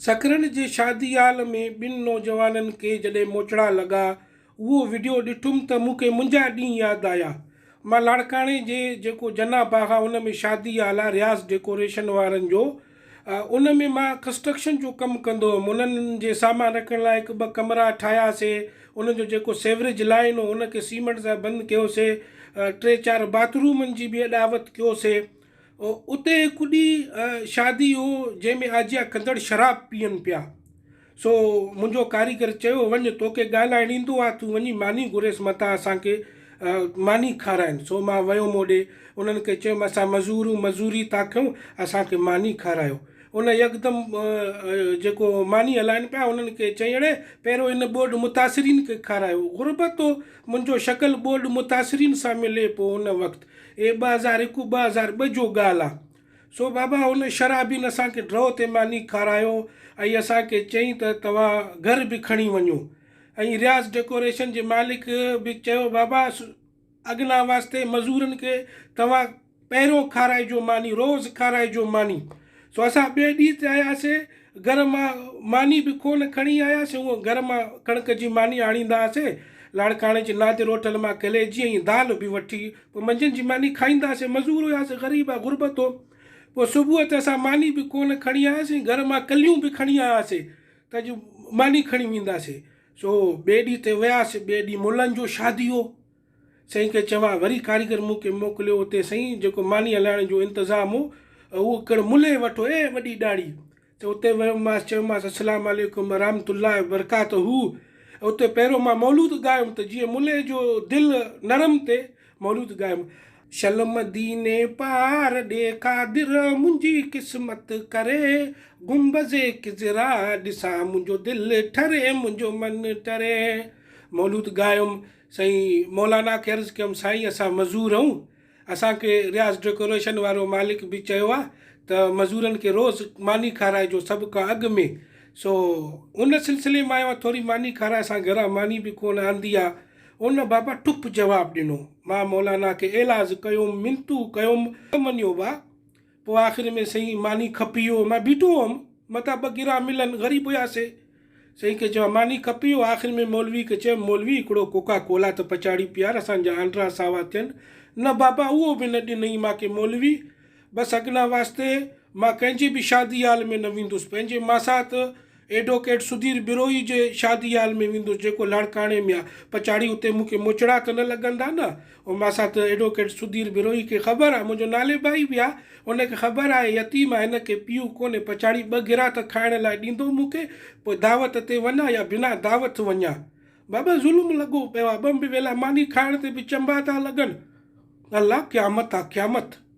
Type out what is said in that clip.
سکرن جي شادي هال ۾ ٻن نوجوانن کي جڏهن موچڙا لڳا، اهو وڊيو ڏٺم ته مون کي منهنجا ڏينهن ياد آيا. مان لاڙڪاڻي جي جيڪو جناح باغ آ ان ۾ شادي هال آ رياض ڊيڪوريشن وارن جو ان ۾ مان ڪنسٽرڪشن جو ڪم ڪندو هيم انهن جي سامان رکڻ لاء هڪ ٻه ڪمرا ٺاهيا سي انهن جو جيڪو سيوريج لائين هو ان کي سيمنٽ سان بند ڪيو سي ٽي چار باٿ رومن جي به اڏاوت ڪيو سي اتي هڪ ڏينهن شادي هو، جنهن ۾ آجيا ڪندڙ شراب پيئن پيا. سو منهنجو ڪاريگر چيو، وڃ، توکي ڳالهائڻ ايندو آ، تون وڃي ماني گهريس متان اسان کي ماني کارائين. سو مان ويم اوڏي، انهن کي چيم، اسان مزور آهيون، مزوري ٿا ڪيون، اسان کي ماني کارايو. ان يڪدم جيڪو ماني هلائين پيا، انهن کي چيائين، اڙي، پهريون ان ٻوڏ متاثرين کي کارايو. غربت هو، منهنجو شڪل ٻوڏ متاثرين سان ملي، پوء ان وقت اهي ٻه هزار هڪ ٻه هزار ٻه جو ڳالهه آ. سو بابا هن شرابين اسان کي ڊرو تي ماني کارايو ۽ اسان کي چئين ته توهان گهر به کڻي وڃو ۽ رياض ڊيڪوريشن جي مالڪ به چيو بابا اڳنا واسطي مزورن کي توهان پهريون کارائجو ماني روز کارائجو ماني سو اسان ٻئي ڏينهن تي آياسي گهر مان ماني به ڪو نه کڻي آياسين، هونء گهر مان ڪڻڪ جي ماني آڻيندا هئاسين. لاڙڪاڻي جي نادر هوٽل مان ڪليجي ۽ دال به وٺي پوء منجهند جي ماني کائيندا هئاسين. مزور هياسين، غريب آ غربت هو. پوء صبح تي اسان ماني به ڪو نه کڻي آياسين، گهر مان ڪليون به کڻي آياسين ته اڄ ماني کڻي وينداسين. سو ٻئي ڏينهن تي وياسين، ٻئي ڏينهن ملن جو شادي هو. سائين کي چواء، وري ڪاريگر مون کي موڪليو اتي سائين جيڪو ماني هلائڻ جو انتظام هو اهو ڪڻ ملهي وٺو اي وڏي ڏاڙهي ته اتي ويم ماس چيوماس السلام عليڪم ورحمت الله وبرڪاته اتي پهريون مان مولود ڳايم ته جيئن ملهي جو دل نرم تي مولود ڳايم شل مديني پار ڏي قادر منهنجي قسمت ڪري گنبذ خضرا ڏسان منهنجو دل ٺري منهنجو من ٽري مولود ڳايم. سائين مولانا کي عرض ڪيم سائين اسان مزور اھون اسان کي رياض ڊيڪوريشن وارو مالڪ به چيو آ ته مزورن کي روز ماني کارائجو سڀ کان اڳ ۾ سو ان سلسلي مان آيو آ ٿوري ماني کارائي اسان گھران ماني به ڪون آندي آ ان بابا ٺپ جواب ڏنو مان مولانا کي ايلاز ڪيوم منتون ڪيوم ته مڃيو با پوء آخر ۾ سائين ماني کپي ويو، مان بيٺو هئم، متان ٻه گرا ملن، غريب هياسي، سائين کي چيو ها، ماني کپي ويو، آخر ۾ مولوي کي چيم، مولوي هڪڙو ڪوڪا ڪولا ته پچاڙي پيار، اسان جا آنڊرا ساوا ٿين، نه بابا اهو به نه ڏنئي مان کي مولوي، بس اگنا واسطي مان ڪنهن جي به شادي هال ۾ نه ويندس، پنهنجي ماسات. ايڊووڪيٽ سڌير ٻروهي جي شادي هال ۾ ويندس جيڪو لاڙڪاڻي ۾ آ پڇاڙي اتي مون کي موچڙا ته نه لڳندا نه او ماسات ايڊووڪيٽ سڌير ٻروهي کي خبر آ منهنجو نالي ڀائي به آ ان کي خبر آهي يتيم آ هن کي پيء ڪونهي پڇاڙي ٻه گرها ته کائڻ لاء ڏيندو مون کي پوء دعوت تي وڃان يا بنا دعوت وڃان بابا ظلم لڳو پيو آ ٻه ويلا ماني کائڻ تي به چنبا ٿا لڳن الله قيامت آ قيامت.